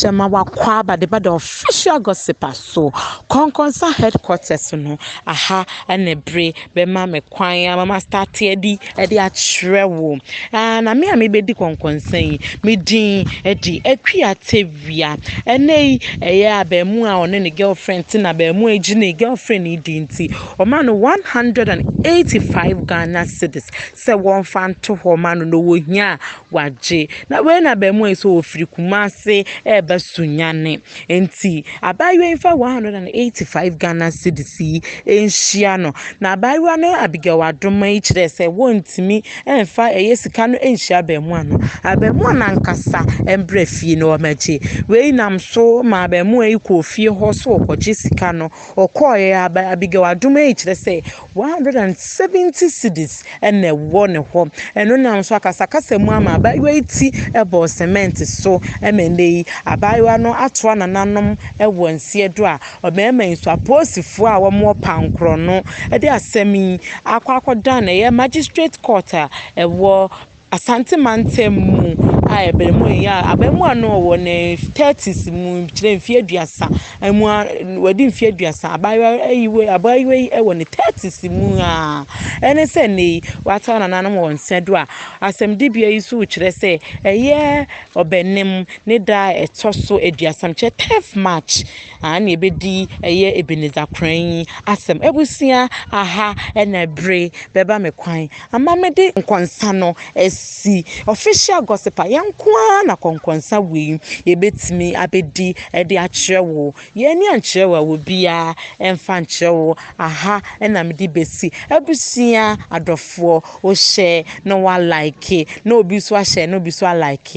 Hyɛma Wakwaaba de ba the official gossiper so Kɔnkɔnsa headquarters no aha ne bere bɛma me kwan ama ma start adi de akyerɛ wo na me a mebɛdi Kɔnkɔnsa yi me din de Akua Tevi awia. Ɛnnɛ yi, ɛyɛ abarimaa a ɔne ne girlfriend te na abarimaa yi gye ne girlfriend yi di nti, ɔma no 185 Ghana cedis sɛ wɔmfa nto hɔ ma no na ɔwɔ hia a wagye. Na wei na abarimaa yi sɛ ɔfiri Kumase reba Sunyani. Nti, abaayewa yi mfa 185 Ghana cedis yi nhyia no. Na abaayewa no Abigail Adoma yi kyerɛɛ sɛ wɔntumi Ɛmfa ɛyɛ sika no nhyia abɛɛmoa no. Abɛɛmoa no ankasa mbra fie no ɔmɛgye. Wei nam so ma abɛɛmoa yi kɔɔ fie hɔ sɛ ɔkɔgye sika no. Ɔkɔɔɛ a Abigail adom ɛyi kyerɛ sɛ 170 cedis ɛna ɛwɔ ne hɔ. Ɛno nam so akasakasa mu ama abaayewa yi ti ɛbɔɔ cement so ɛma ɛnɛ yi abaayewa no atoa nananom ɛwɔ nseɛ do a. Ɔbarima yi nso, apolisifo a wɔwɔ pannkorɔ no de asɛm yi akɔ akɔdan ɛyɛ magistrate court a ɛwɔ Asante mantam mu a abarimaa yi a abarimaa no ɔwɔ ne thirties mu kyerɛ mfeɛ aduasa mu a wadi mfeɛ aduasa. Abaayewa yi wɔ abaayewa yi wɔ ne thirties mu a ɛne sɛ nnɛ yi watoa nananom wɔn nsa do a asɛmdibea yi nso kyerɛ sɛ ɛyɛ ɔbɛnem ne da a ɛtɔ so aduasa mekyerɛ tenth March. Aane ebedi ɛyɛ Ebenezer Kran yi asɛm abusua aha na ɛbere bɛba me kwan ama me de nkɔnsa no asi official gossip a yɛn nko ara na kɔnkɔnsa wei yɛbɛtumi abɛdi de akyerɛ wo yɛn ani ankyerɛ wo a wɔ biara ɛmfa nkyerɛ wo aha na me de bɛsi abusua adɔfoɔ o hyɛ na wa like na obi so ahyɛ na obi so a like